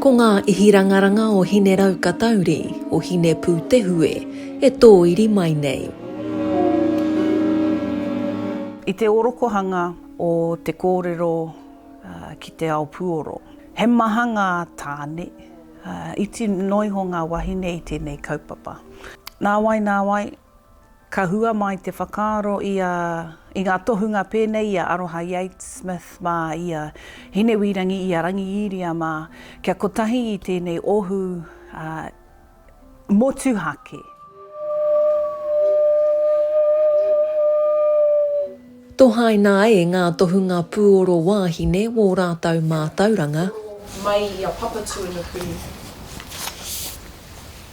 Ko ngā ihirangaranga o Hineraukatauri, o Hinepūtehue, e tōiri mai nei. I te orokohanga o te kōrero ki te ao puoro, he maha ngā tāne, iti noa iho ngā wahine i tēnei kaupapa. Nāwai, nāwai, Ka hua mai te whakaaro i a, i ngā tohunga pēnei i a Aroha Yates-Smith mā, i a Hinewīrangi, i a Rangiīria mā, kia kotahi i tēnei ohu motuhake. Tohaina ai ngā tohunga pūoro wāhine wō rātou mātauranga. Mai i a Papatūānuku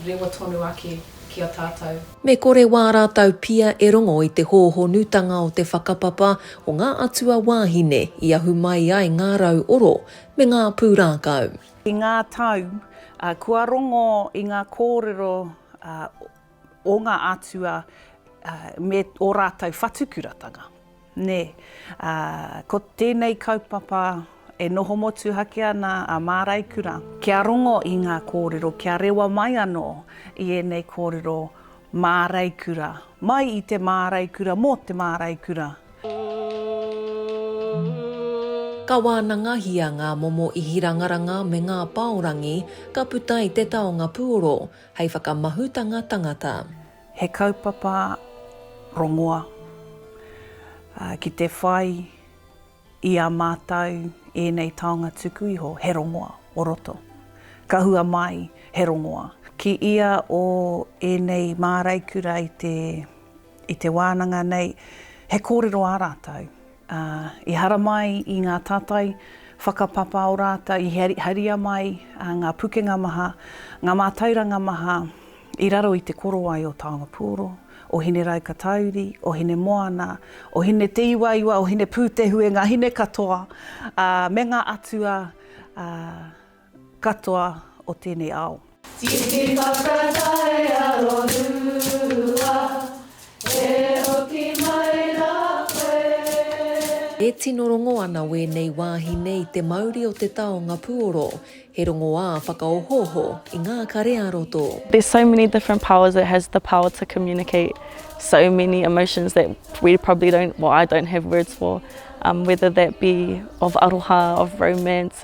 rewa tonu ake ki a tātou. Me kore wā rātou pia e rongo i te hōhonutanga o te whakapapa o ngā atua wāhine i ahu mai ai ngā rau oro me ngā pūrākau. I ngā tau, kua rongo i ngā kōrero o ngā atua me ō rātou whatukuratanga. Nē, ko tēnei kaupapa e noho motuhake ana a Māraikura. Kia rongo i ngā kōrero, kia rewa mai anō i ēnei kōrero Māraikura, mai i te Māraikura, mō te Māraikura. Ka wānangahia ngā momo ihirangaranga me ngā pāorangi ka puta i te taonga puoro, hei whakamahutanga tangata. He kaupapa rongoa ki te whai i a mātou ēnei taonga tuku iho, he rongoa o roto. Ka hua mai he rongoa. Ki ia o ēnei māraikura i te wānanga nei, he kōrero ā rātou. Ā, i haramai i ngā tātai whakapapa o rātou, i haria mai ngā pukenga maha, ngā mātauranga maha i raro i te korowai o Taonga Pūoro, o Hinerau-ka-tauri, o Hinemoana, o Hineteiwaiwa, o Hinepūtehuengā, hine katoa, ā, me ngā atua, ā, katoa o tēnei ao. Tiki whakatae arorua, e hoki mai rā koe. E tino rongo ana wēnei wāhine i te mauri o te taonga puoro, he rongoā whakaohooho i ngā kare-ā-roto. There's so many different powers it has the power to communicate so many emotions that we probably don't well I don't have words for um whether that be of aroha of romance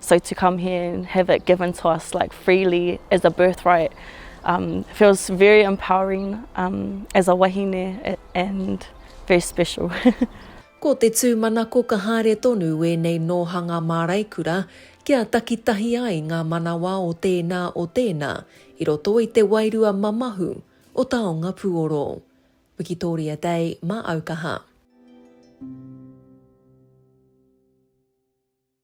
So to come here and have it given to us like freely as a birthright um, feels very empowering um, as a wahine and very special. Ko te tūmanako ka haere tonu ēnei nōhanga māraikura kia takitahi ai ngā manawa o tēnā o tēnā i roto i te wairua mamahu o taonga puoro. Wikitoria Day mā Aukaha.